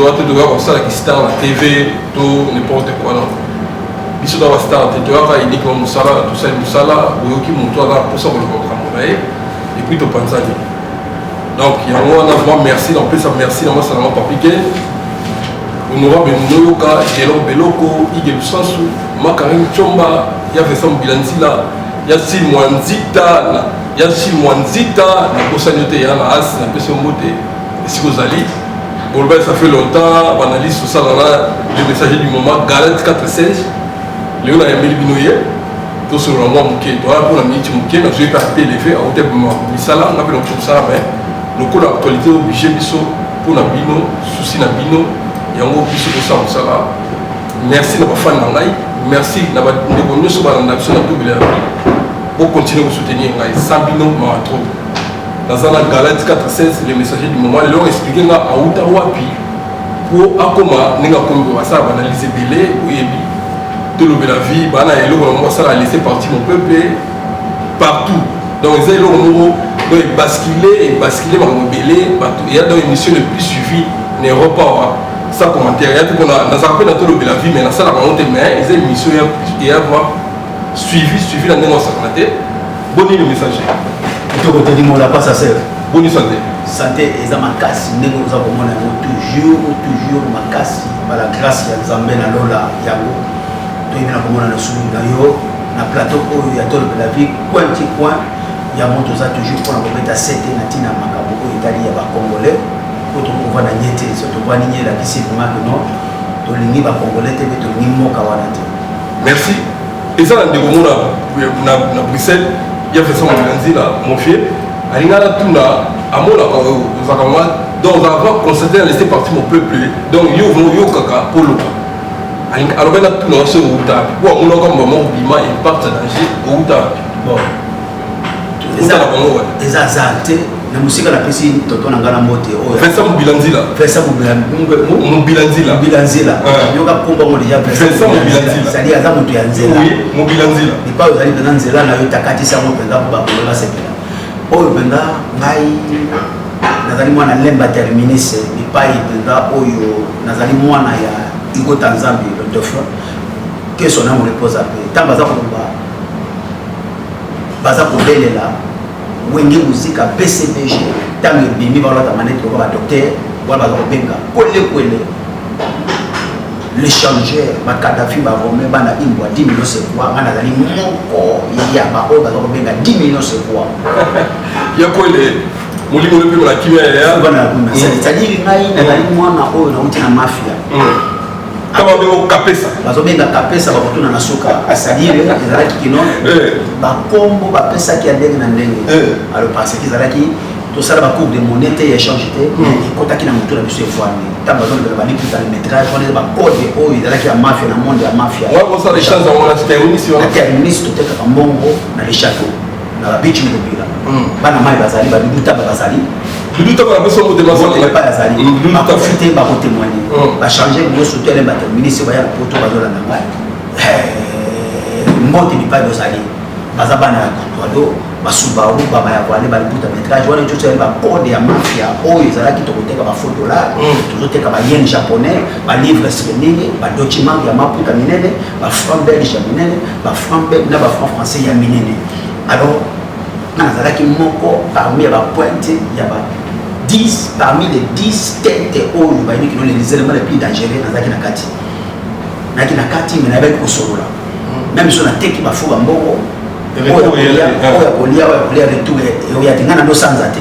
toa te toyaka kosala kistar na tv to n'importe quoi non biso toa bastar te toyaka uniquement mosala tosali mosala oyoki moto aza mposa koloba makambo na ye epuis topanzani donc yango wana vraiment merci na kopesa merci na masala yango papike honorable munoyoka gelor beloko ige lusansu makarine comba ya vincent mobila nzila ya silmwa nzita ya silmwa nzita nakosani yo te yana asi napesi yo mbote esika ozali boloba ça fait longtemps banalyse tosala na le messager du moment galant 4 16 lelo nayambeli bino ye tosolola mwa moke toya mpo na miniti moke nazwi mpe ape eleve auta misala nga mpe nakoki kosala mai lokola actualité oblige biso mpo na bino susi na bino yango biso kosala mosala merci na bafani na ngai merci na bandeko nyonso balanda biso na tobela bokontinue kosoutenir ngai sans bino mawa trop naza na galati 416 le messager du moment leo explike nga awuta wapi po akoma ndenge akomi po basala baanalyse ebele oyebi tolobela vie bana eloko na moko asala laisse parti mon peuple partout donc eza eloko moko donc ebaskile ebaskile makambo ebele bato eya donc émission le plus suivi na europa wa sa commentaire ya te pona nazalaka mpe na tolobela vie mais nasalaka yango te mais eza émission eya voir suivi suivi na ndenge osakana te Boni le message. Kitoko te dimola pas sa sœur. Boni santé. Santé eza makasi ndenge oza komona yango toujours toujours makasi par la grâce ya Nzambe na lola yango toyebi na komona na sulu na yo na plateau oyo ya tolo de la vie coin ti coin yango toza toujours mpona kobeta sete na ntina ya makambo oyo etali ya bacongolais oyo tokova na nye te so tovandi nye elakisi vraimen que non tolingi bacongolais te mpe tolingi mboka wana te merci eza na ndeko mona na bruxelles ya vincent mobila nzila mofie alinga natuna amonaka ozaka ma donc oza va constate na laisse parti mon peuple donc yo vraimen oyokaka mpo oloba alobaki natuna yo soki owuta wapi mpo amonaka mbama obima imparte danger owuta wapi eza bango wana eza azar te na mosika napesi toto na ngai na mbote oyo vincent mobila nzila vincent mobila mobila nzila mobila nzila ah. yoka kombo yango deja vincent mobila nzila sadi aza moto ya nzela mobila nzila epai ozali mpenza nzela na yo takatisa yango mpenza mpo bakolo basepela oyo mpenza ngai nazali mwana lemba terminis epai mpenza oyo nazali mwana ya hugo tanzambi le dauphin que son âme repose en paix ntango aza koloba Baza kobelela wenge muzika bcbg ntango ebimi baolata manete lokola badoktere wana baza kobenga kwelekwele le changeur bakadafi barome bana imbwa dimino sekua ngai nazali moko ya baoyo baza kobenga dimino sekua yakwele molimo oyo epema na kimia yaya c'est-à-dire ngai nazali mwana oyo nauti na mafia mm. kama bengo kapesa bazobenga kapesa bakotuna na suka asadire ezalaki kino eh. bakombo bapesaki ya ndenge na ndenge eh. alors parce que ezalaki tosala bacours de monnaie te ya échange te hmm. ekotaki na motu na biso efwami ntango bazolobela balikuta le métrage wana eza bacode oyo ezalaki ya mafia na monde ya mafia na terministe totekaka mbongo na le château na ba beach mobila bana mai bazali ba dudu taba bazali dudu taba na biso motema zote ba paya zali ba profiter ba ko témoigner ba changer ngo surtout les bateaux ministre ba ya poto ba zola na ngai mbote bipai bozali baza bana ya kutuado basubaru baba ya voile balibuta metrage wana nyonso ezali bacode ya mafia oyo ezalaki tokoteka bafo dollar mm. tozoteka bayen japonais balivre srendenge badocument ya maputa minene bafranc belge ya minene ba franc belge na ba franc français ya minene alors nga nazalaki moko parmi ya bapointe ya ba 10 parmi les 10 tete oyo bayebi kino lelizelema le plus dangereux nazalaki na kati nayaki na kati me nayebaki kosolola meme so nateki bafo bambongo oyo ya kolia oyo ya kolia retour oyo ya te nga na nosanza te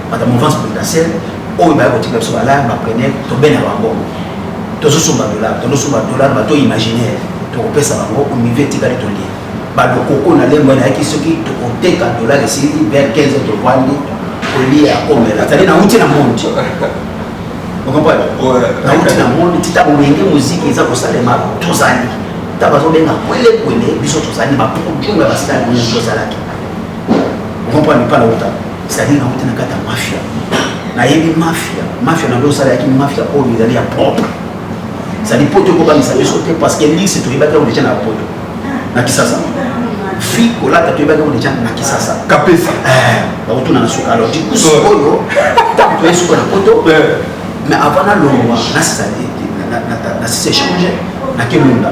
Bata mouvance présidentielle oyo baya kotika biso balaya bapreneur tobenda bango tozosomba dollar tozosomba dollar bato imaginaire tokopesa bango unive etikali tolie balokoko na lembo nayaki soki tokoteka dollar esili vers 15 heures tovandi kolia komela zali nauti na monde okomprendre nauti na monde ti ntango boyenge moziki eza kosalema tozali ta bazobenga kwelekwele biso tozali baproduit ya basitani oyo tozalaki okomprendre mpa na utaka cetadire nauti na kati ya mafia nayebi mafia mafia na biso osalaki mafia oyo ezali ya propre ezali poto ekobangisa biso te parce que lise toyebaki yango deja na poto na kisasa fi kolata toyebaki yango deja na kisasa kapesa eh, bakotuna na suka alors diku sikoyo ntango toye suka na poto mais avant nalongwa nasisa na sisa échange na kelunda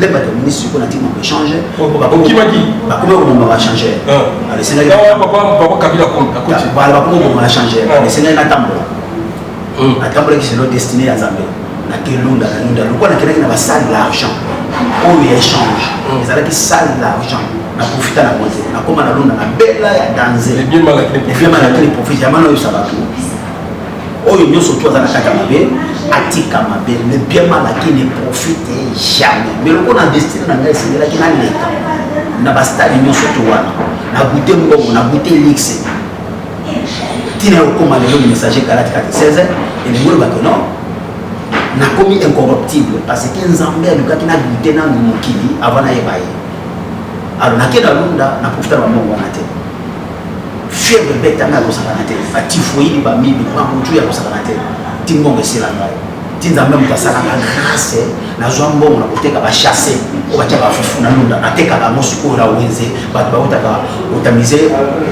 le bato ya ministre mpo na ntina ya échange bakokimaki bakoma kobomba ba changeur alesengaki bakoma kobomba ba changeur alesengaki natambola atambolaki selo destiné ya nzambe na kelunda na lunda lokola nakendaki na basale l'argent oyo ya échange ezalaki sale l'argent naprofita na konze nakoma na lunda na bela ya danze ebiema na kini profite yamana oyebisa bato oyo nyonso tu aza na kati ya mabe atika mabe le bien mal aki ne profite jamais mais lokola na destine na ngai esengelaki na leta na bastade nyonso to wana na goute mbongo na goute lixe ntina ya kokoma lelo messager kalati kati 16 elingi oloba ke non nakomi incorruptible parce que nzambe alukaki na goute nanu mokili avant nayeba ye alors nake na lunda na profita na bambongo wana te fièvre ebeta ngai akozalaka te ba typhoïde ba mibi ba mutu ya kozalaka te ti mbongo esila ngai ti nzambe moto asalaka grâce nazwa mbongo na koteka bachasse oyo batya bafufu na lunda natekaka yango sikoyo na wenze bato bautaka otamize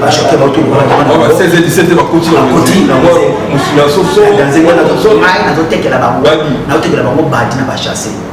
bachoke bauti lokolanazoteke na bango badi na bachasse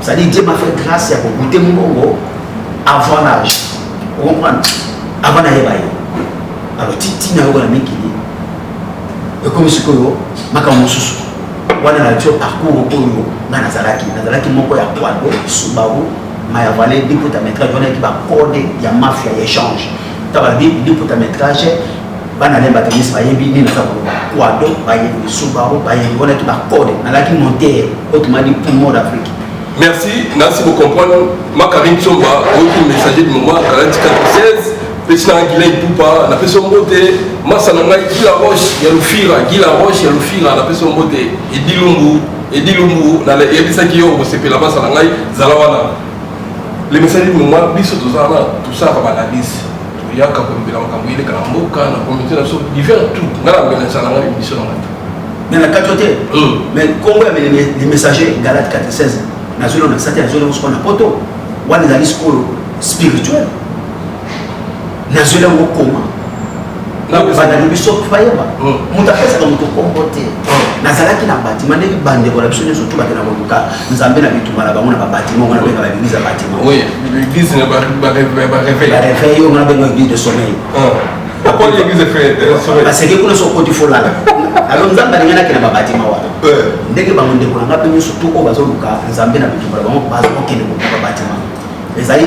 ça dit Dieu m'a fait grâce ya ko goûter mbongo avant l'âge vous comprenez avant d'aller bailler alors titi na yo na mikili ekomi sikoyo makambo mosusu wana na tio parcours oyo nga nazalaki nazalaki moko ya poido subaru mayavale depota metrage wana yaki bacode ya mafia ya échange ta ba bi ni puta metrage bana ne bato nyonso bayebi nini naza koloba kwado bayebi subaru bayebi wana ti bakode nalaki montere otumadi poumon d'afrique merci nasi bocomprendre makarine tsomba oyoki messager du moment kalati 96 pesi na gila ipupa napesi yo mbote masa na ngai gila roche ya lufira gila roche ya lufira napesi yo mbote edilumbu edilumbu nayebisaki yo okosepela masa na ngai zala wana le message du moment biso toza wana tosalaka banalise toyaka kolobela makambo eleka na mboka na communauté na biso divers tout nga na mbela nsala nga bibiso na ngata mais na kati yo te mais nkombo ya le messager galate 46 nazweli na sati nazweli yango sikoyo na poto wana ezali sikoyo spirituel nazweli yango koma banda na biso fayeba hmm. moto apesaka moto kombo te hmm. nazalaki na batima ndenge bandeko na biso nyonso tobakela koluka nzambe na bituma na bango na babatima ongo nabenga baeglise ya batima bareveil ongo nabenga eglise de sommeil hmm. baseke kuna so okoti folala alo nzambe alingi nakenda babatima wana eh. ndenge bango ndeko na ngai mpe nyonso to oyo bazoluka nzambe na bituma na bango bazokokende kokuba batima ezali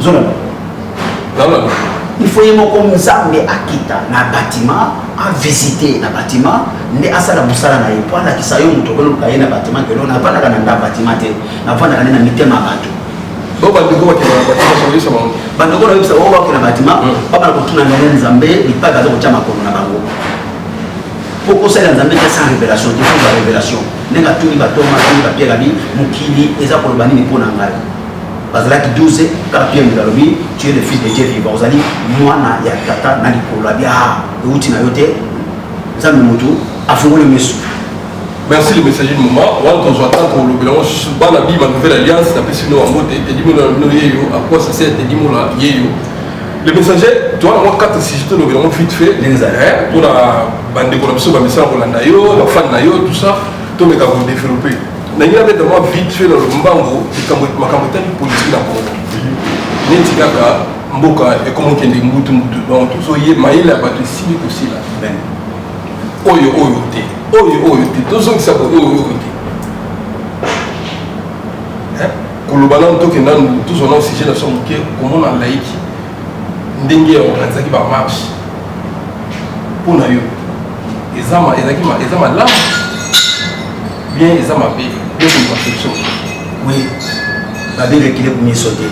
ozolanda il faut ye moko nzambe akita na bâtiment avisite na bâtiment nde asala mosala na ye mpo alakisa yo moto okoloka ye na bâtiment kelo navandaka na nda bâtiment te navandaka nde na mitema ya bato bandeko nayebisa bango bakenda bâtiment babana kotuna ndenge nzambe lipai baza kotya makolo na bango mpo kosalela nzambe te sans révélation te fo ba révélation ndenge atuni batoma atuni bapiere abi mokili eza koloba nini mpo na ngai bazalaki 12 kaka pierre mbila alobi tu es le fils de dieu vivant ozali mwana ya tata na likolo abi ah euti na yo te nzambe motu afungoli misu merci le messager du moment wana tozwa ntango kolobela yango susu bana bima nouvelle alliance napesi bino yango te tedimola na bino yeyo akwa sase tedimola yeyo le messager towana mwa quatre sujet tolobela yango vite fait mpona bandeko na biso bamisala kolanda yo bafani na yo tout ça tomeka kodeveloppe na ngai abeta mwa vite fait na lombango likambo makambo etali politiki na congo neti kaka mboka ekomokende mbutu mbutu donc tozoye mayele ya bato esili kosila oyo oyo te oyo oyo te tozongisa oyo oyo te koloba nanu tokenda nanu tozwa nao sujet na so moke komona laiki ndenge ya organizaki bamarche mpo na yo eza malamu bien eza mabe yo contraception oui babe rekile kumiso te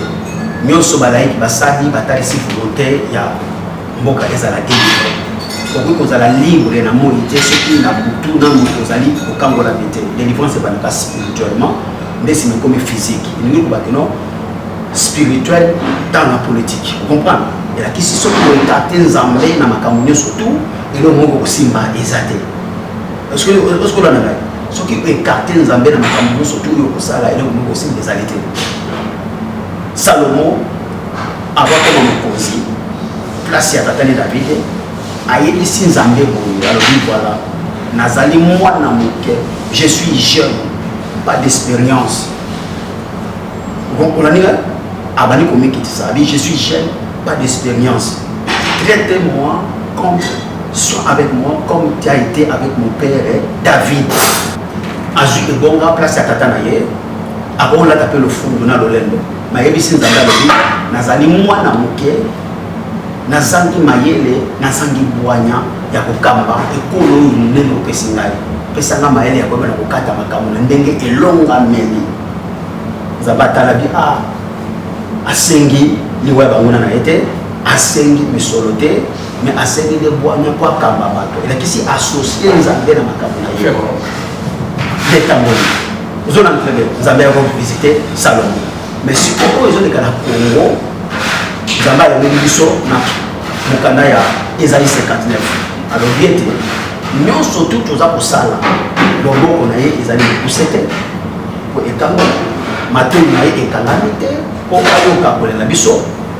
nyonso balaiki basali batalisi volonte ya mboka ezala te okoki kozala libre na moi te soki na butu na moto ozali kokangola me te délivrance ebandaka spirituellement nde nsima ekomi physique elingi koba kino spirituel dans la politique okomprendre elakisi soki oekarte nzambe na makambo nyonso tu eloko moko kosimba eza te ozokolanda ngai soki oekarte nzambe na makambo nyonso to oyo okosala eloko moko osimba ezali te salomo abakoma mokonzi place ya tata ne davide ayebisi nzambe boye alobi voilà nazali mwana moke je suis jeune pas d'expérience olandi ngai abandi komikitisa abi je suis jeune pas d'expérience traite moi comme Sois avec moi comme tu as été avec mon père eh, David. Azui ebonga place ya tata na ye akolata mpe lofundu na lolendo mayebisi nzambe alobi nazali mwana moke nazangi mayele nazangi bwanya ya kokamba ekolo oyo monene opesi ngai pesa ngai mayele ya koyeba na kokata makambo na ndenge elongameli nzambe atalabi a ah, asengi liwa ya banguna na ye te asengi misolo te mais asengi nde bwanya mpo akamba bato elakisi associe nzambe na makambo na ye detangoli ozona ntrebe nzambe yako visite salongo mais sikoyo ezoleka na congo nzambe alobeli biso na mokanda ya ezali 59 alobi ete nyonso tu toza kosala loboko na ye ezali mokuse te mpo ekango matoi na ye ekangami te mpo ayoka kolela biso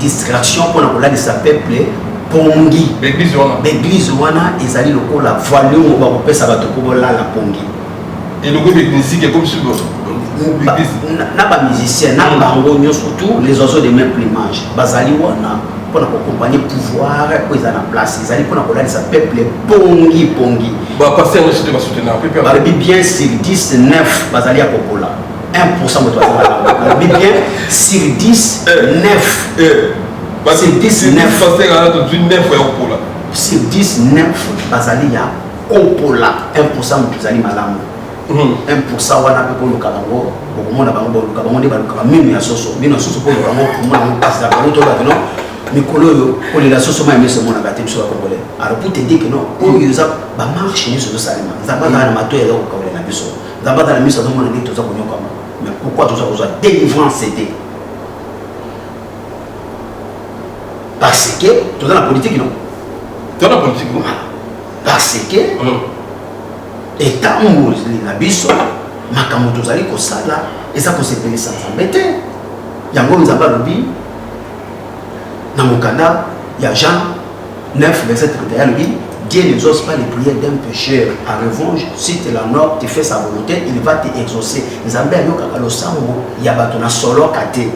distraction pona kolalisa peuple pongi baeglise wana ezali lokola voiliumo bakopesa bato mpo bolala pongi elokobi miziki ekomisi na bamusicien na bango nyonso tout les oiseaux de même plumage bazali wana mpona kokompanye pouvoir oyo eza na place ezali mpona kolalisa peuple pongi pongi balobi bien sur 19 bazali ya kokola 1% moto aza malamu alobi bien sur 10 9 basi 19 pasteur ala tozwi 9 ya kopola sur 19 bazali ya kopola 1 moto ezali malamu 1 hmm. wana mpe koluka bango bokomona bango boluka bango nde balukaka mino ya soso mino ya soso koluka bango komona bango mpasi na bango tolobaki no mikolo oyo kolela soso mai miso emonaka te biso bakongole alors pour te dire que non oyo eza bamarche nyonso ezosalema nzambe azala na mato ya eloko kaolela biso Zabata na miso azomona ndenge toza konyokama mais pourquoi toza kozwa délivrance te parce que toza na politique non toza na politique parce que etamboli na biso makambo tozali kosala eza kosepelisa nzambe te yango nzambe alobi na mokanda ya jean 9, verset 31, elle dit Dieu ne n'exauce pas les prières d'un pécheur. En revanche, si tu l'honores, tu fais sa volonté, il va t'exaucer. Nzambe ayokaka losambo ya bato na soloka te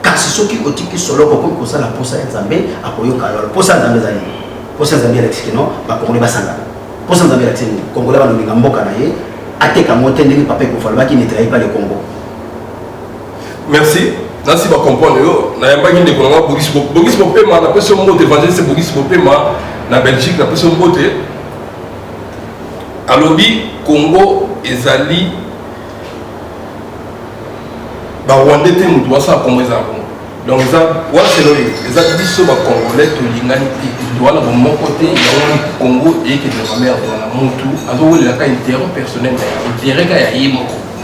kasi soki otiki solo okoki kosala mposa ya nzambe akoyoka yo mposa ya nzambe ezali mposa ya nzambe elakisi kino bakongole basangana mposa ya nzambe elakisi nini kongole banolinga mboka na ye ateka yango te ndenge papa ekufa alobaki netrayi pa le congo Merci. nasi ba comprendre yo nayambaki ndeko na nga bogisi bogisi bopema napesi yo mbote evangeliste bogisi bopema na belgique napesi yo mbote alobi congo ezali barwandais te moto basala congo eza na congo donc eza wana selo ye eza biso bacongolais tolingani te moto wana bomoko te yango congo eyekende na merde wana motu azowelela ka interet personnel na ye interet ka ya ye moko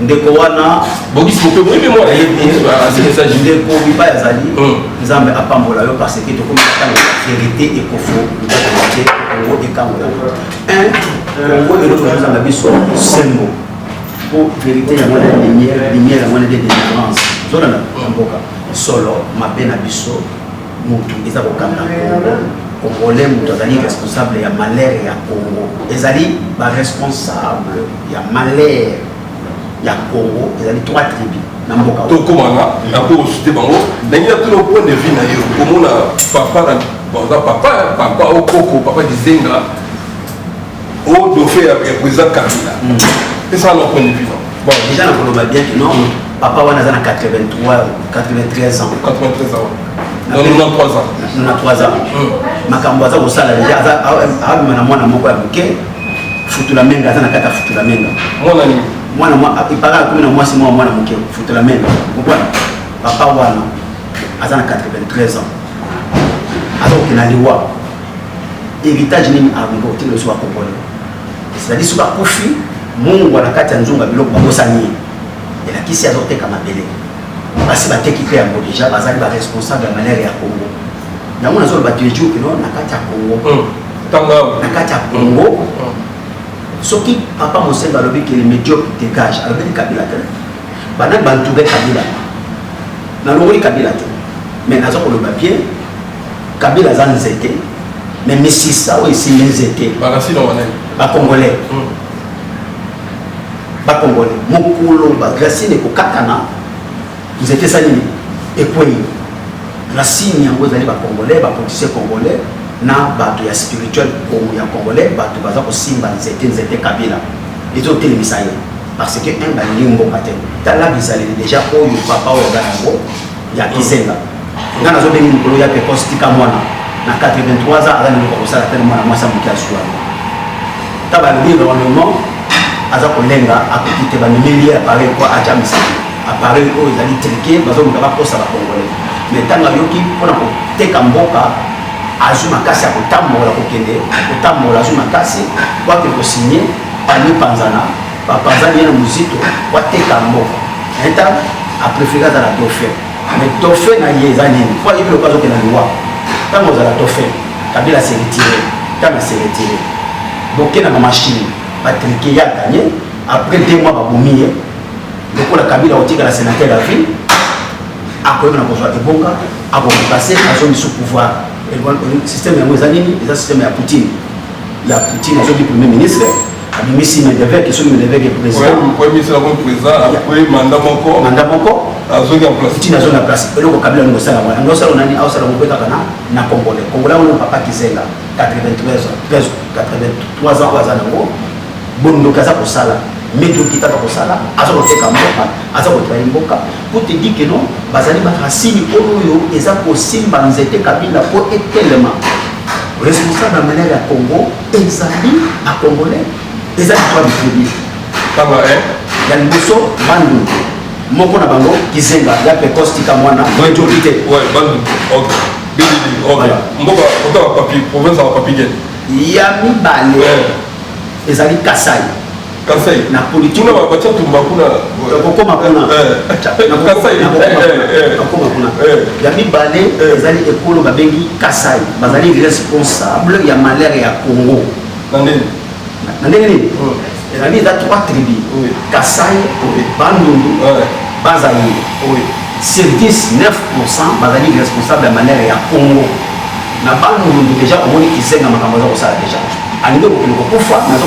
ndeko wana bokisi bope boyebi mwana yebiasmessage ndeko bipai azali hmm. nzambe apambola yo parce que tokomi na ntango ya verité ekofo te kongo ekangola un kongo eloko na nzambe biso sembo mpo verité yango na lumière lumière yango na de délivrance zolana na mboka solo mabe na biso mutu eza kokanga Congo congolais mutu azali responsable ya malheur ya Congo ezali ba responsable ya malheur ya Congo ezali trois tribus na mboka tokomaka nakosute bango ndenge ya tuna point de vue na yo komona papa na baza papa papa okoko papa dizenga o dofe ya président kabila esa na point de vue non bon déjà nakoloba bien que non Papa wana aza na 83 93 ans. 93 ans. Na 93 ans. Na 93 ans. Hmm. Makambo aza kosala deja aza abima na mwana moko ya moke futula menga aza na kati ya futula menga. Mwana nini? Mwana mwa ipaka akomi na mwasi mwa mwana moke futula menga. Okomprendre? Papa wana aza na 93 ans. Aza kokenda liwa. Héritage nini alingi kotikela biso bakongole? C'est-à-dire soki akufi mungwa na kati ya nzungu ya biloko bakosani ye. elakisi azoteka mabele basi bateki mpe yango deja bazali baresponsable ya malere ya congo yango nazoloba toujours kino na kati ya congo hmm. na kati ya congo hmm. soki papa mosenga alobi ke médiocre dégage alobeli kabila te banani bantoure kabila nalongoli kabila te mais naza koloba bien kabila aza nzete mais misisa oyo esimbi nzete bakongolais hmm. bakongole mokolo bagrasine ekokatana nzete esa nini ekwei rasine yango ezali bakongole bapolitise kongole na bato ya spirituel ya kongole bato baza kosimba nzete nzete kabila ezotelemisa ye parce que un balingi mboka te tala bizaleli deja oyo papa oyo aza yango ya kizenga nga nazo bengi mokolo ya pekos tika mwana na 83 ans aza leloko kosala tele mwana mwasi amoki azwa ta balobi environnement aza kolenga akoki te bamemeli ye appareil po atya misiki appareil oyo ezali trike bazoluka bakosa bakongole me ntango ayoki mpona koteka mboka azwi makasi ya kotambola kokende kotambola azwi makasi po akende kosigne panipanzana bapanzani ye na muzito wateka mboka eta aprefere azala dauphin mais dauphin na ye eza nini po ayebi loka azokenda liwa ntango ozala dauphin kabila seretire ntango aseretire boke na bamashine batrike ya ganye après deux mois babomi ye lokola kabila otikala sénateur ya ville akoyebana kozwa ebonga akokompase azongi sous pouvoir système yango eza nini eza système ya poutine ya poutine azongi premier ministre abimisi medeveke soki medeveke présidentpremisela ko président après manda moko manda moko azongi en place ntina azongi en place eloko kabila yango osala wana yango osala nani aosala yango mpe kaka na na congolais congolais yango papa kizenga 93 ans 83 ans oyo aza nango bondoki aza kosala medoki kaka kosala aza koteka mboka aza kotraye mboka po te di ke non bazali barasini oyo eza kosimba nzete kabila po etelema responsable ya manere ya congo ezali ba congolais eza histoire du tribut papa eh ya liboso bandu moko na bango kizenga ya pekos tika mwana joki te ouais bandu ok bilili ok mboka kota ba papi province ya ba papi gene ya mibale ezali kasai Kasai. Na politique. Kuna babacha tumba kuna. Nakokoma kuna. Eh. Kasai. Eh, Nakokoma eh. kuna. Ya mibale ezali ekolo babengi Kasai. Bazali responsable ya malheur ya Congo. Na ndenge. Na ndenge nini? Hmm. Ezali eza trois tribus. Kasai, Bandundu, Bazali. Sur 10, 9% bazali responsable ya malheur ya Congo. Na Bandundu deja omoni kizenga makambo aza kosala deja. Alingi kokende kokufa nazo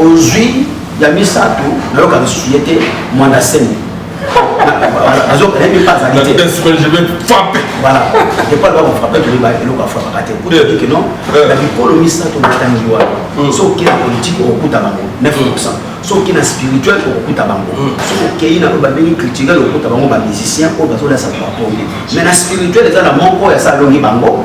ozui ya misato nayoka lisusu ye te mwanda semi nayebi mpe azali te voilà epa loba kofrape toyeba eloko afrapaka te otiki non na bikolo misato batangi wana so oke na politike okokuta bango 9 so oke na spirituel okokuta bango so okei na oyo babengi culturel okokuta bango bamusicien oyo bazolasa bapongi mais na spirituel eza na moko ya salongi bango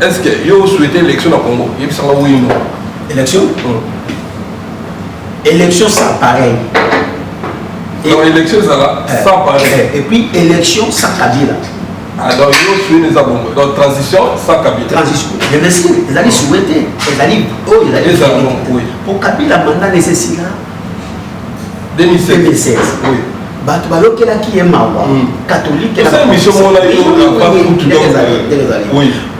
Est-ce que yo souhaité élection na Congo? Yebisa nga oui non. Élection? Hmm. Élection sans pareil. Et donc élection ezala eh, sans pareil. Eh, et puis élection sans Kabila. Ah donc yo souhaité eza bongo. Donc transition sans Kabila. Transition. Je me suis ezali souhaité, ezali oyo oh, ezali. Ezali bongo. Pour Kabila mandat nécessaire. 2016 oui bato bayokelaki ye mawa hmm. katolike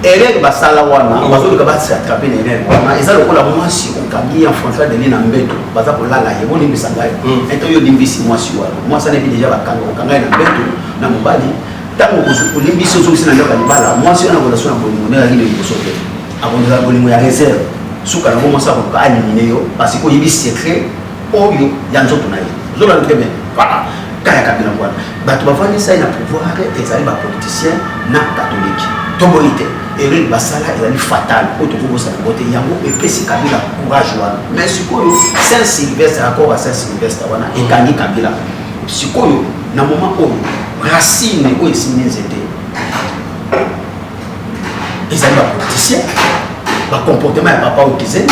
elele basala wana hmm. bazoluka basiatrape na elele wana eza lokola mwasi okangi ya françois deni na mbeto baza kolala ye bolimbisa ngai hmm. ete oyo limbisi mwasi wana mwasi anayebi deja bakanga okanga ye na mbeto na mobali ntango olimbisi ozongisi na ndako ya libala mwasi wana kolasi na bolingo nde ezalaki na liboso te Akondela bolingo ya reserve. Suka na bomasa akoka alimine yo parce que oyebi secret oyo ya nzoto na ye. Zola très bien. Voilà. Kaya kabila mwana. Bato bafandisa ye na pouvoir ezali ba politiciens na catholique. Toboyi te. Erreur basala ezali fatal oyo tokobosana yango te yango epesi kabila courage wana mais sikoyo saint sylvestre accord ya saint sylvestre wana ekangi kabila sikoyo na moment oyo racine oyo esimbi nzete ezali bapoliticien bacomportement ya papa okize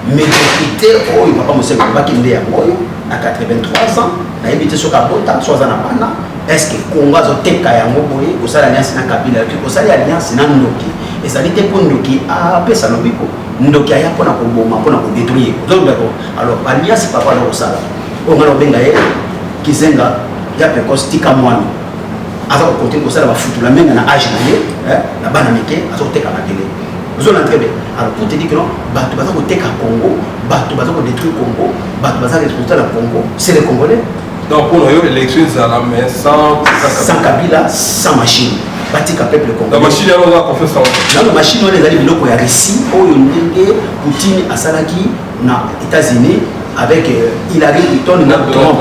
médiocrité oyo papa moselu alobaki nde yango oyo na 83 ans nayebi te soki abota so aza na bana estce kongo azoteka yango boye kosala alliance na kabila yoki kosali alliance na ndoki ezali te mpo ndoki apesa lobiko ndoki aya mpona koboma mpona kodetruire ozolobako alors alliance papa alokosala oyo ngai nakobenga ye kizenga ya pekos tika mwana aza ko compter ko sala ba futu la menga na âge na ye hein na bana mike aza ko teka makele ozo na très bien alors pour te dire que non bato baza ko teka Congo bato baza ko détruire Congo bato baza responsable ya Congo c'est les Congolais donc pour yo élection ezala mais sans sans Kabila sans machine batika peuple congolais machine yango oza confiance yango nano machine wana ezali biloko ya russie oyo ndenge poutine asalaki na états-unis avec euh, hillary clinton na trump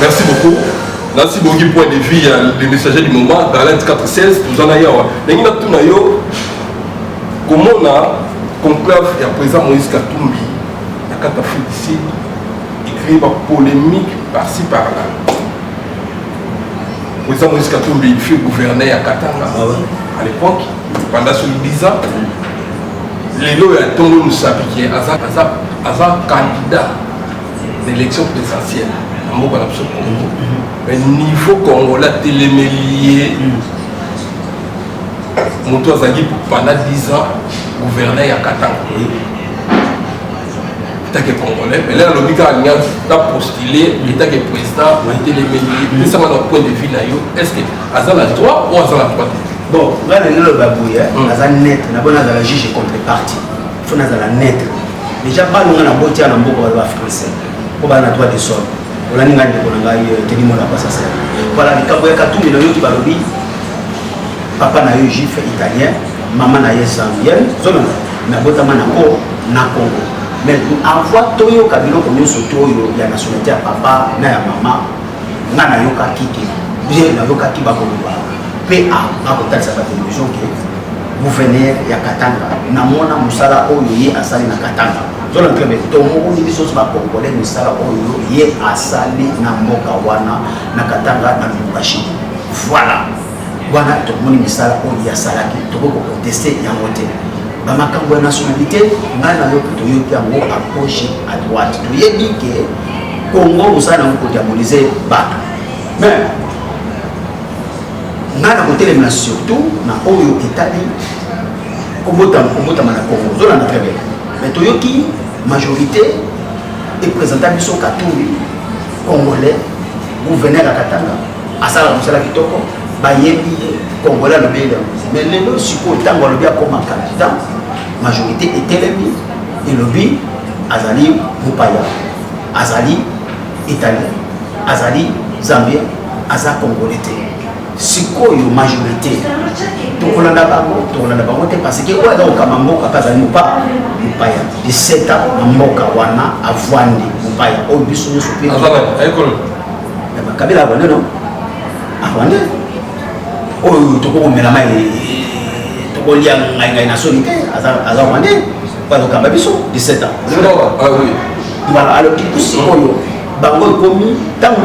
Merci beaucoup. nasi bongi point de vue ya le messager du moment dans 416 toza na yawa ndenge natuna yo komona conclave ya président moïse katumbi na kati ya félicite ecréer bapolémique par-ci par-là président moïse katumbi fut gouverneur ya katanga ah à l'époque pendant soki 10 ans lelo ya ntongo mosapi ke aza candidat na élection présidentielle na mboka na biso congo mais niveau congolais atelemeli ye moto azalaki pendant 10 ans gouverneur ya katanga etake congolais mais lelo alobi kaka alingi na postule etake président atelemeli ye pesanga na point de vue na yo est ce que aza na droit ou aza na droit te bon ngai na ngai loba boye aza net na bona azala juge contre parti fo nazala neutre deja bano nga naboti ya na mboka baza bafrançais mpo baa na droit de sol olandi ngai ndeko na ngai euh, teni mona basasa voilà likambo ya katumbi nayoki balobi papa na yo juif italien mama na ye zambienne zolona nabotama na ko na congo mais avant toyoka biloko nyonso to oyo ya nationalité ya papa na ya mama nga nayokaki te bien nayokaki bakoloba mpe akotalisa batelevision ke gouverneur ya katanga namona mosala oyo ye asali na katanga zona club tomokuni biso nyonso bacongolais mosala oyo ye asali na mboka wana na katanga na lubumbashi voilà wana tomoni misala oyo ye asalaki tokoki kokonteste yango te bamakambo ya nationalité ngai na yo toyoki yango a gauche à droite toyebi ke congo mosala yango kodiabolize bato mais ngai nakotelemela surtout na oyo etali kobotama na congo ozolanda très bien mais toyoki majorité epresenta biso katumbi congolais gouverneur ya katanga asalaka mosala kitoko bayebi ye congolais alobi ye mais lelo sikoyo ntango alobi akoma candidat majorité etelemi elobi azali mopaya azali italien azali zambien aza congolais te sikoyo majorité tokolanda bango tokolanda bango te parce que oyo aza kokamba mboka mpe azali mopaya mopaya 17 ans na mboka wana avwandi mopaya oyo biso nyonso mpe kabila avwandi no avwandi oyo tokokomela mai tokolia ngai ngai na soni te aza rwandais oyo azokamba biso 17 ans Voilà, alors du coup, c'est quoi Bango ekomi, tant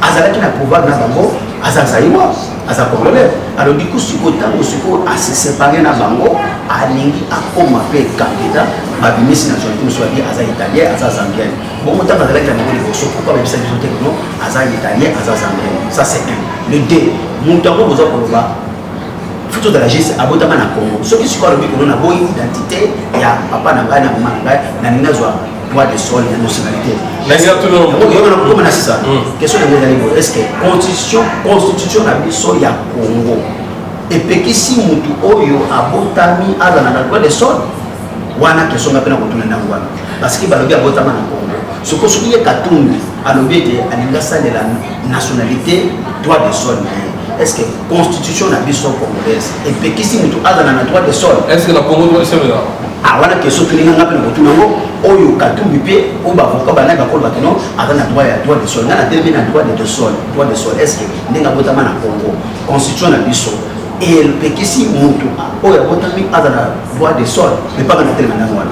azalaki na pouvoir na bango, aza zaïwa, aza congolais. Alors du coup, siko tango siko a se séparer na bango, alingi akoma pe candidat, babimisi na zone musu abi aza italien, aza zambien. Bon muta ba zalaki na bango liboso, pourquoi ba bisa biso te non, aza italien, aza zambien. Ça c'est un. Le deux, mutu yango boza koloba futu ozala juste abotama na congo soki sikoyo alobi kono na boyi identité ya papa na ngai na mama na ngai na ninga zwa droit de sol ya nationalité yokana kokoma na sisa hmm. question yango ezali boye est ce que constitution constitution na biso ya congo epekisi motu oyo abotami azala na droit de sol wana question nga mpe na kotuna ndango wana parce que balobi abotama na congo sokosoki ye katumbi alobi ete alingi asalela nationalité droit de sol na ye est ce que constitution na biso congolaise epekisi moto azala na droit de sol est ce que na congo droit de sol eza ah, wana question tolinga nga mpe na kotuna yango oyo katumbi mpe oyo bavoka banai bakoloba kino aza na droit ya droit de sol nga na telemi na droit de sol droit de sol est ce que ndenge abotama na congo constitution na biso epekisi moto oyo abotami azala droit de sol epaka na telema ndanga wana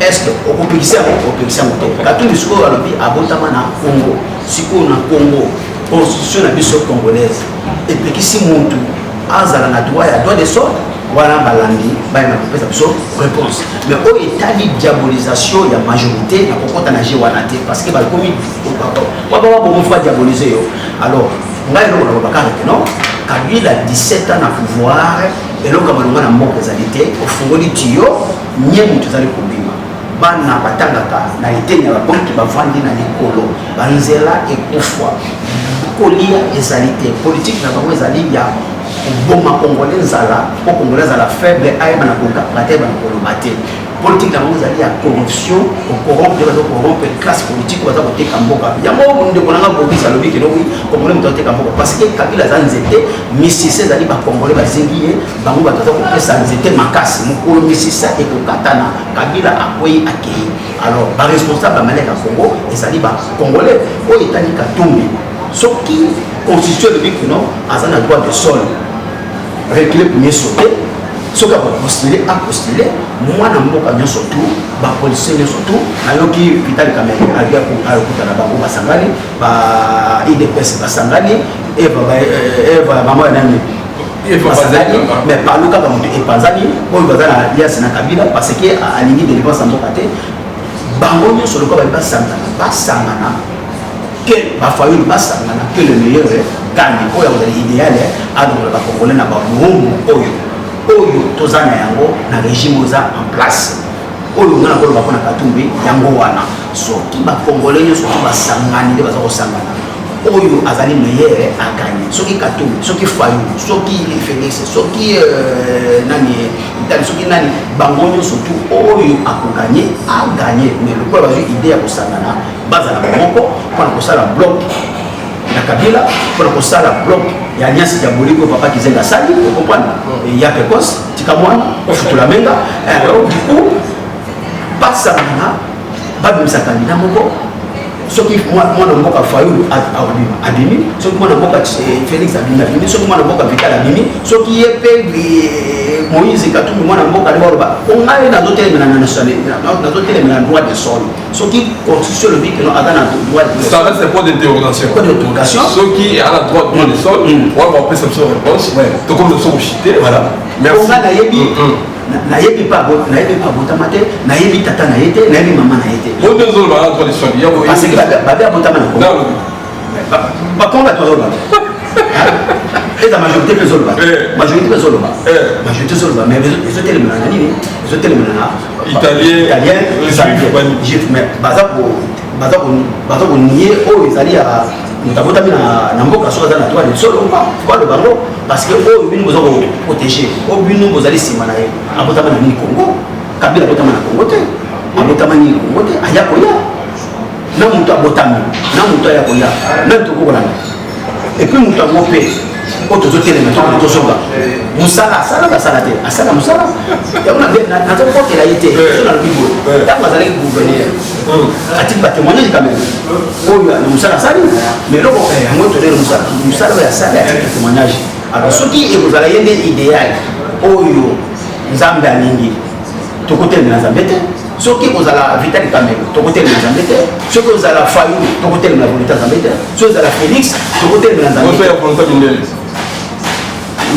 est-ce que okopekisa yango okopekisa yango te katumbi sikoyo alobi abotama na congo sikoyo na congo constitution na biso congolaise epekisi muntu azala na droit ya droit de sort wana balandi bayeba kopesa biso réponse mais oyo etali diabolisation ya majorité na kokɔta na je wana te parce que bakomi babababomofra diabolise yo alors ngai eloko nakobaka rete non kabila 17 ans na pouvoir eloko ya malonga na mboka ezali te ofungoli tiyo Nyembo tozali kobima bana batangaka na eteni ya babriki bavandi na likolo banzela ekufwa kolia ezali te politike na bango ezali ya koboma kongole nzala mpo kongole azala faible ayeba na kokanga te ayeba na koloba te politike na bango ezali ya corruption okorompe baza korompe classe politique baza koteka mboka yango ndeko nanga bobis alobi kenoki kongole moto ateka mboka parce que kabila aza nzete misise ezali bakongole bazingi ye bango bato aza kopesa nzete makasi mokolo misisa ekokatana kabila akwei akei alors baresponsable ya maleka congo ezali bacongolais oyo etali katumbi soki constitution elobi kino aza na droit de sol recule premier sauter soki akopostule apostule mwana mboka nyonso tu bapolisie nyonso tu nayoki vital kamere ayokuta na bango basangani ba idps basangani eva ba- eh, eva mama ya nani Eva basangani bazali mama. mais palu kaka moto epanzani oyo baza na alias na kabila parce que a- alingi delivrance ya mboka te bango nyonso lokola bali basangana basangana que bafayulu basangana que le meilleur gandi oyo akozala idéal alongola bakongole na bamomu oyo oyo toza na yango na régime oyo eza en place oyo nga nakoloba mpo na katumbi yango wana soki ba congolais nyo soki ba sangani nde baza ko sangana oyo azali meilleur a gagner soki katou soki fayu soki felix soki euh, nani tali soki nani bango nyo surtout oyo ako gagner a gagner mais lokola bazui idée ya ko sangana bazala moko pona ko sala bloc na kabila pona ko sala bloc ya nyasi ya boliko papa kizenga sali okompana ya pekos tika mwana ofutula menga eh, du coup basangana babimisa kandida moko soki mwana mboka fayulu abimi soki mwana mboka eh, félix abimi abimi soki mwana mboka vital abimi soki ye mpe eh, moïse katumbi mwana mboka nde baloba ongai nazotelemela na nazotelemela droit de sol soki constitution elobi keno aza na droit ça reste point d'interrogation point d'interrogation soki aza na droit de sol mm. wana bapesa biso réponse tokomi biso kochite voilà ongai nayebi mm, mm. nayebi pa nayebi pa botama te nayebi tata na ye te nayebi mama na ye te babe abotama na kongo bakongo bato bazoloba eza majorité mpe ezoloba majorité mpe ezoloba majorité ezoloba mais ezotelemela na nini ezotelemela na italien juif mais baza konie oyo ezali ya moto abotami na mboka soki aza na droit de solo balo bango parce que oyo bino boza koprotege oyo bino bozali nsima na ye abotama na nini congo kabila abotama na congo te abotama nini congo te aya koya na moto abotami na moto aya koya meme tokokolana epuis moto yango mpe oyo tozotelema tokoma tozonga mosala asala basala te asala mosala yango nazokotela ye te so nalobi boye ntango azalaki gouverneur atika batemoignage quand même oyo na mosala asali mais eloko yango tolele mosala mosala oyo asali atika témoignage alors soki ekozala ye nde idéal oyo nzambe alingi tokotelemela nzambe te soki kozala vitali kamelo tokotelemela nzambe te soki kozala fayu tokotelemela volonté nzambe te soki ozala félix tokotelemela nzambe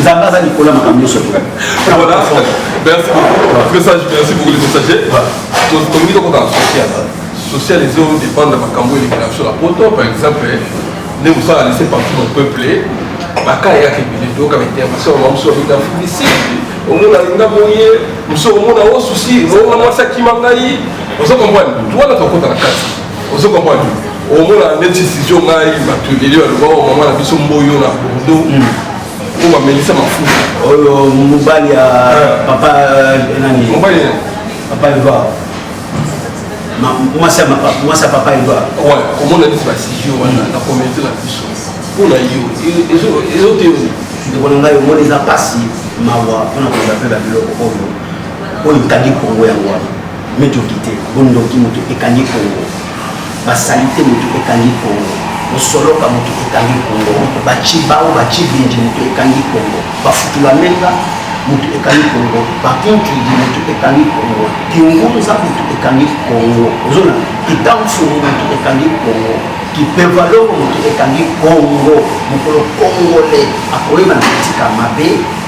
nzambe aza likolo ya makambo nyonso frère merci beaucoup message merci beaucoup les messagers tolingi tokota na social social ezo dépendre na makambo elekela biso na poto par exemple nde mosala laisse partout na peuple baka eyaka ebele toyoka baintervention ya bamosusu babeta fudisi omona linga boye mosusu omona o susi omona mwasi akima ngai ozo comprendre wana tokota na kati ozo comprendre omona neti sizio ngai bato elio aloba o mama na biso mboyo na bordeaux oyo bamelisa mafuta oyo mobali ya papa nani mobali papa eva mwasi ya papa eva omona neti basizio wana na communauté na biso mpo na yo ezoteyo ndeko na ngai omoni eza mpasi mawa mpona kozwa mpe babiloko oyo oyo etali kongo yango wana Mediocrité, bondoki moto ekangi Congo. Basalite moto ekangi Congo. Bosoloka moto ekangi Congo. Bachibao, bachibindi moto ekangi Congo. Bafutula menga moto ekangi Congo. Bakuntuidi moto ekangi Congo. Kiungunza moto ekangi Congo. Ozona kitamfuru moto ekangi Congo. Kipevaloko moto ekangi Congo. Mokolo Congolais akoyeba na kotika mabe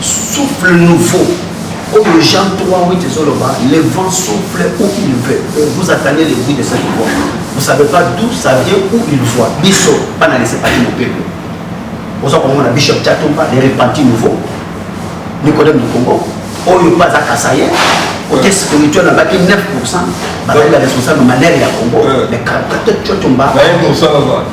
Souffle nouveau oyo Jean 3 8 ezoloba le vent souffle où il veut et vous attendez le bruit de cette voix vous savez pas d'où ça vient où il voit biso bana lese pati mopepe oza komona bishop chatumba le repenti nouveau nicodème du congo oyo mpe aza kasaye côté spirituel abaki 9 pourcent bazali ba responsable manere ya congo mais 44 cotumba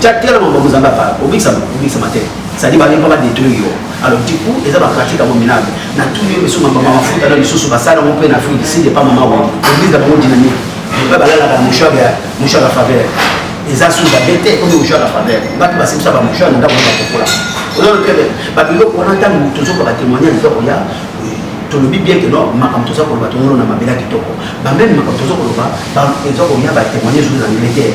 Tia tia na makambo Nzambe apala, obikisama, obikisama te. C'est-à-dire balingi mpo badétruire yo. Alors du coup, eza bapratique yango minable. Na tuni yo misusu mabamba mafuta na lisusu basala yango mpe na Afrique du Sud epa mama wani. Église na bango dynamique. Mpe balalaka na mouchoir ya mouchoir ya faveur. Eza sous la bête oyo mouchoir ya faveur. Bato basimisa ba mouchoir na ndako na bakokola. Ozo le très bien. Ba biloko wana ntango tozoka ba témoignage ezoko ya tolobi bien que non makambo toza koloba tongolona mabela kitoko bameme makambo toza koloba eza koya batémoignage oyo na angleterre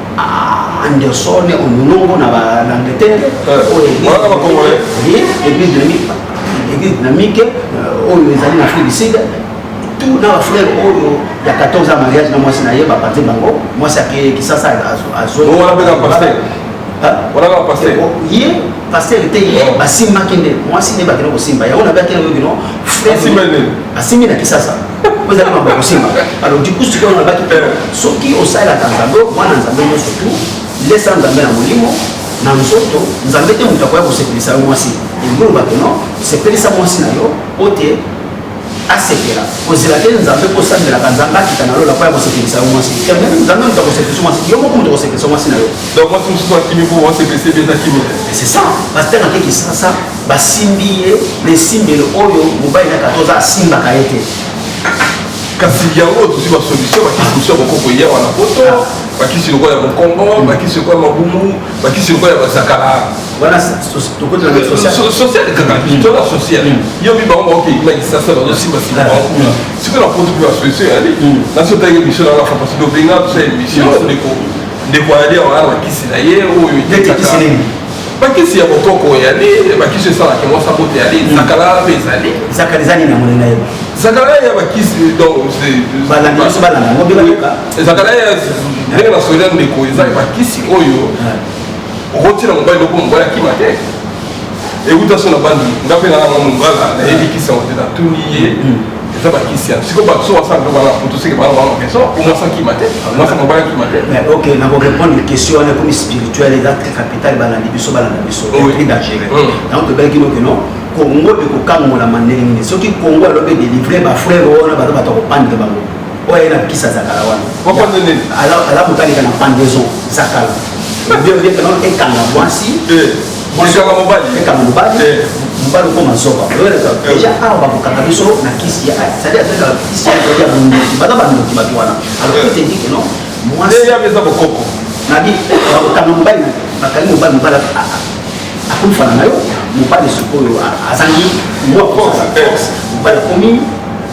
Ah, Anderson Onongo na l'Angleterre. Voilà ma congolais. Et puis dynamique. Et puis dynamique euh, oyo ezali na Afrique du Sud. Tout na frère oyo ya 14 ans mariage na mwasi na ye bapanzi bango mwasi ake kisasa azo. Wana mpe na pasteur. Wana na pasteur. Ye pasteur te ye basimbaki nde mwasi nde bakende kosimba yango na bakende oyo bino. Asimbi na kisasa. ozali mambo ya kosimba alors du coup sikoyo nalobaki mpe soki osalelaka nzambe mwana nzambe nyonso tu lesa nzambe na molimo na nzoto nzambe te moto akoya kosepelisa yo mwasi ebulu bato no sepelisa mwasi na yo mpo te asepela kozela te nzambe mpo osalelaka nzambe akita na lola mpo ya kosepelisa yo mwasi nzambe moto akosepelisa mwasi yo moko moto akosepelisa mwasi na yo donc mwasi mosusu akimi mpo wasepelisa ebe eza kimi c'est ça pasteur akekisasa Basimbi ye na esimbelo oyo mobali na katoza asimbaka ye te. Kasi yango oyo tozwi basolution bakisi mosusu ya bokoko eya wana poto ah. bakisi lokola ya mokongo hmm. bakisi lokola mabumu bakisi lokola ya basakala wana sociale kaka tola sociale yo mi bango baoke ekima kisasa bazosimba sima bango kuna sikoyo na poto mpe basolution eyali naso otangi emission na lafa parce tobenga biso ya emission ndeko ndeko ayali awana bakisi na ye oyo etekaka bakisi ya bokoko eyali bakisi esalaka mwasi abota eyali hmm. zakalala mpe ezali zakala ezali na monene ye zakalala ya bakisi donbalangisi balanga yango mpe bayoka zakalala ya ndenge na solia ndeko eza ya bakisi oyo hmm. okotyela mobali loko mobali akima te ewuta so na bandi nga mpe nanga mwa mobala nayebi kisi yango te natuni ye hmm. eza bakisi ya siko bato so basala biloko wana kutu seke bana bango keso omwasi akima te mwasi mobali akima te mais ok nakorépondre question wana ekomi spirituel eza très capital balandi biso balanda biso très dangereux yango toyebaki noke non congo ekokangolama ndenge nini soki congo alobi edelivre bafrere wana baza bato akopandre bango oyo aye na bikisi ya zakala wana ala motalika na pandaison zakala bien bien ekanga mwasi Olikaka mobali? Eka mobali. Eh. Mobali okoma zoba. Eh. Deja awa bakokaka biso na kisi ya c'est-à-dire ateka kisi ya ya bondoki. Baza bandoki bato wana. Alors eh. ete ndike non. Moi. Deja beza bokoko. Nabi bakokanga mobali bakangi mobali mobali akufa na yo mobali sikoyo azangi mwa force mobali akomi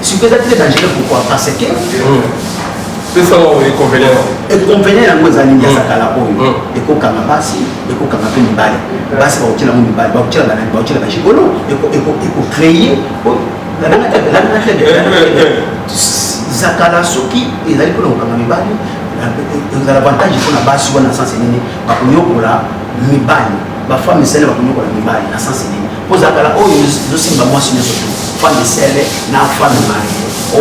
sikoyo eza très dangereux pourquoi parce que ekonvene yango eza nini asakala oyo ekokanga basi ekokanga mpe mibali basi bakotyela yango mibali bakotyela banani bakotyela bagigolo ekocreye zakala soki ezali mpona kokanga mibali ezala avantage mpona basi wana na sanse nini bakonyokola mibali bafami sene bakonyokola mibali na sanse nini kozakala oyo ezosimba mwasi nyonso tu fan de sele na fan de mari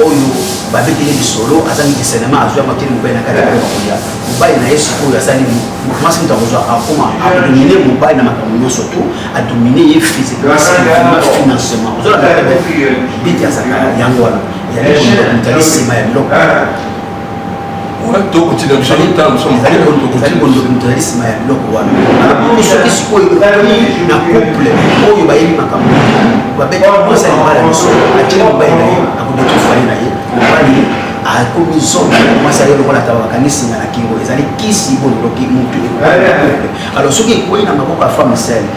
oyo babeteli lisolo azangi kisenema azwi amakeli mobali na kati akoya mobali na ye sikoyo asali mwasi moto akozwa akoma adomine mobali na makambo nyonso tu adomine ye physiquement financement ozolaa bete azaka yango wana ezali nsima ya biloko tozali nsima ya biloko wana soki sikoyo na couple oyo bayebi makambo babeti mwasi alibala biso atie mobali na ye akobeti fali na ye mobali akomi zonga mwasi aye lokola taba bakangi singa na kingo ezali kisi bololoki mutu alors soki ekwei na maboko ya femme sele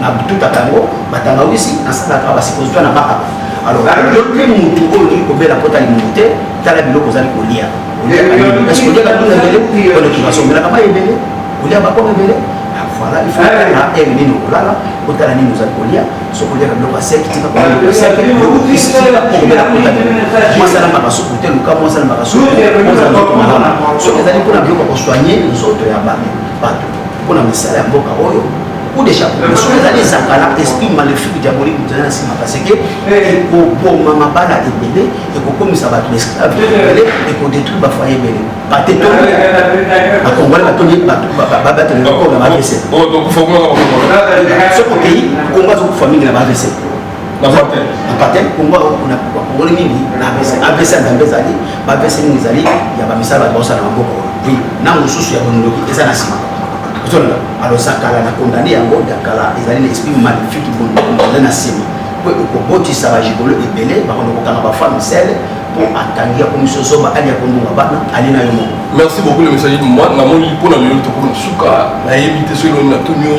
na bututaka yango batangawisi nasalaka basipositoire na baka alors yo mpe motu oyo olingi kobela mpota limongo te tala biloko ozali kolia oliaka nduna ebele kolekima somelaka mai ebele olia bakoma ebele voilà il faut na heure nini okolala otala nini ozali kolia soki oliaka biloko ya seki tika mwasala mbaka suku te luka mwasala mbaka suku soki ezali mpona biloko ya kosoigne nzoto ya bato mpo na misala ya mboka oyo kudeja mosusu ezali ezakala esprit maléfique diabolique moto eza na nsima parce que ekoboma mabala ebele ekokomisa bato na esclave ebele ekodétruire bafoye ebele bate to bakongole batoni babatele bakoo na bavc soki okei kongo azokufa mingi na bavc bapatin kongo akokuna bakongoli mingi na avc ya nzambe ezali baavc mingi ezali ya bamisala bato baosala na maboko oui na mosusu ya bondoki eza na nsima ozolala alosa kala na kondane yango ya kala ezali na esprit magnifique bondoki eza na nsima mpo ekobotisa bajigolo ebele bakondo kokanga bafemme sele mpo atangi ya komiso zoba ali ya kondunga bana ali na yo moko merci beaucoup le message namoni mpo na lelo tokoma suka nayebi te soki elongi na tuni yo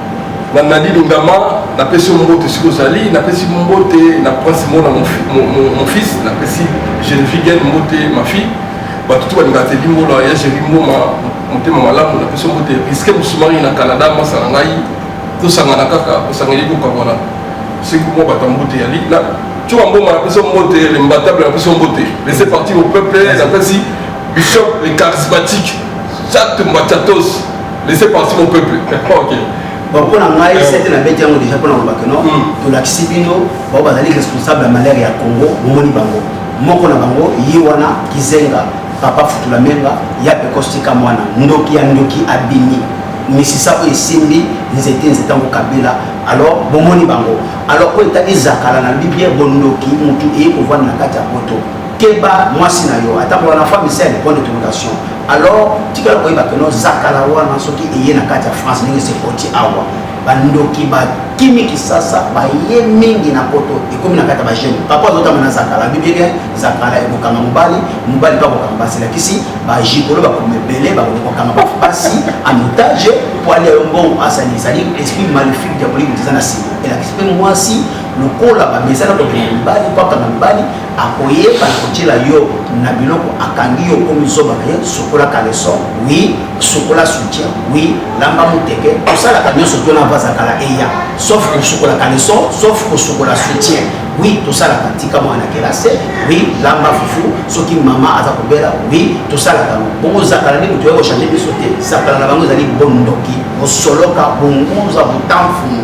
Na Nadi Lungama, napesi yo mbote esika ozali, napesi mbote na Prince Mona mon, mon, mon, mon fils, napesi Genevieve Gen mbote ma fille, bato tu balingaka te limbola ya Jerry Mboma motema malamu, napesi yo mbote Risque Musumari na Canada, mwasi na ngai, tosangana kaka, osangeli kokabwana soki mwa bato ya mbote yali na tyoka mboma napesi yo mbote lembatable napesi yo mbote laisse partir au peuple napesi bishop le charismatique chat mbatatos Laissez partir mon peuple. ok. Donc mpo na ngai sete na beti yango déjà mpo na kolobaka no tolakisi bino bao bazali responsable ya malere ya congo bomoni bango moko na bango ye wana kizenga papa futula menga ya pekostika mwana ndoki ya ndoki abimi misisa oyo esimbi nzete nzete yango kabila alors bomoni bango alors oyo etali ezakala na biblia bondoki motu eye kovanda na kati ya poto keba mwasi na yo ata wana femme esi ya lepoint de toleration alors tikala koyeba ke nozakala wana soki eye na kati ya france ndenge sekoti awa bandoki bakimi kisasa baye mingi na poto ekomi na kati ya bajeune papa azotama na zakala bibike zakala ekokanga mobali mobali mpe akokanga basi elakisi bajikolo bakoma ebele bakoki kokanga basi en otage mpo alia yo mbongo asali ezali esprit maléfique diabolique eza na sima elakisi mpe mwasi lokola bamesana kobela mibali mpo akanga mibali akoyeba kotiela yo na biloko akangi yo okomi zoba na ye sukola caleson wi sukola soutien wi lamba moteke tosalaka nyonso to na vaza kala eya sauf kosukola caleson sauf kosukola soutien wi tosalaka tika mwana kelase wi lamba fufu soki mama aza kobela wi tosalaka yango bongo zakala nde moto ya kochange biso te zakala na bango ezali bondoki bosoloka bongunza botamfumu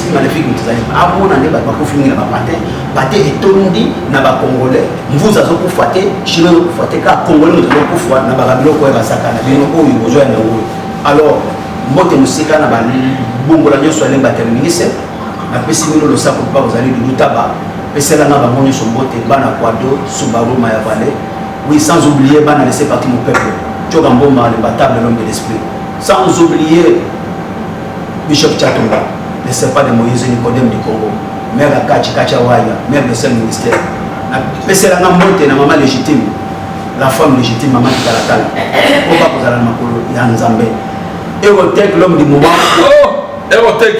magnifique moto ezali amona nde bato bakufi mingi na bapate pate etondi na bacongolais mvuzi azokufa te chino azokufa te kaka congolais moto azokufa na baka biloko oyo basaka na bino oyo bozwa yango oyo alors mbote mosika na babongola nyonso alemba terminise napesi bino losako mpa kozali lilutaba peselanga bango nyonso mbote bana kwado subaru mayavale oui sans oublier bana laisse parti mon peuple tioka mboma lemba table l'homme de l'esprit sans oublier Bishop Chatumba, le serpent de Moïse, Nicodème du Congo, mère ya Kachi, Kachi Awaya, mère de seul ministère. Napesela nga mbote na mama légitime, la femme légitime, mama Kitalatala, mpo bakozala na makolo ya Nzambe. Erotech, l'homme du moment. Oh, Erotech,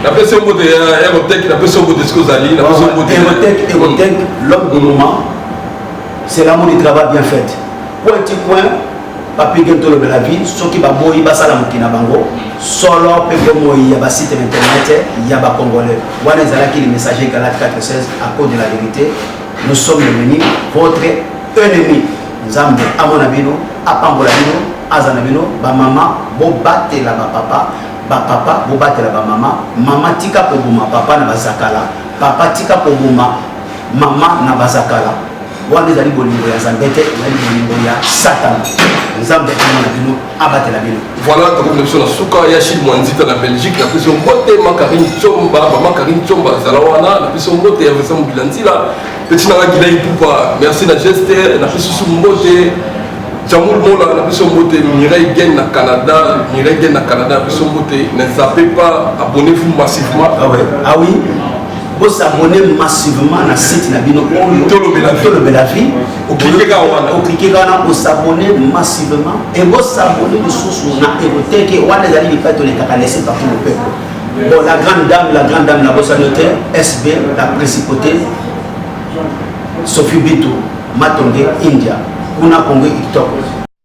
napesi mbote ya Erotech, napesi mbote siko ozali, napesi mbote. Erotech, Erotech, l'homme du moment, c'est l'amour du travail bien fait. Point, point, Papy Gene tolobela vie soki baboyi basala moki na bango solo mpe bomoi ya basite na internet ya bacongolais wana ezalaki le messager galate 416 à cause de la vérité nous sommes devenu votre ennemi nzambe amona bino apambola bino aza na bino bamama bobatela bapapa bapapa bobatela bamama mama tika koboma papa na bazakala papa tika koboma mama na bazakala wana ezali bolingo ya nzambe te ezali bolingo ya satana nzambe akoma na bino abatela bino voilà tokomi na biso na suka ya chine mwa nzita na belgique na biso mbote makarine comba mama karine comba azala wana na biso mbote ya vincent mobila nzila peti nanga gila ipupa merci na geste na biso susu mbote jamul mola na biso mbote mireille gen na canada mireille gen na canada na biso mbote ne zape pas abonnez vous massivement ah, ouais. ah oui Bo s'abonner massivement na site na bino oyo tolobela tolobela vie oklikeka wana oklikeka wana bo s'abonner massivement et bo s'abonner lisusu na eroteke wana ezali bipai tolekaka laisser partout le peuple bon la grande dame la grande dame na bosani te sb la principauté sophie bitu matonge india kuna kongo kitoko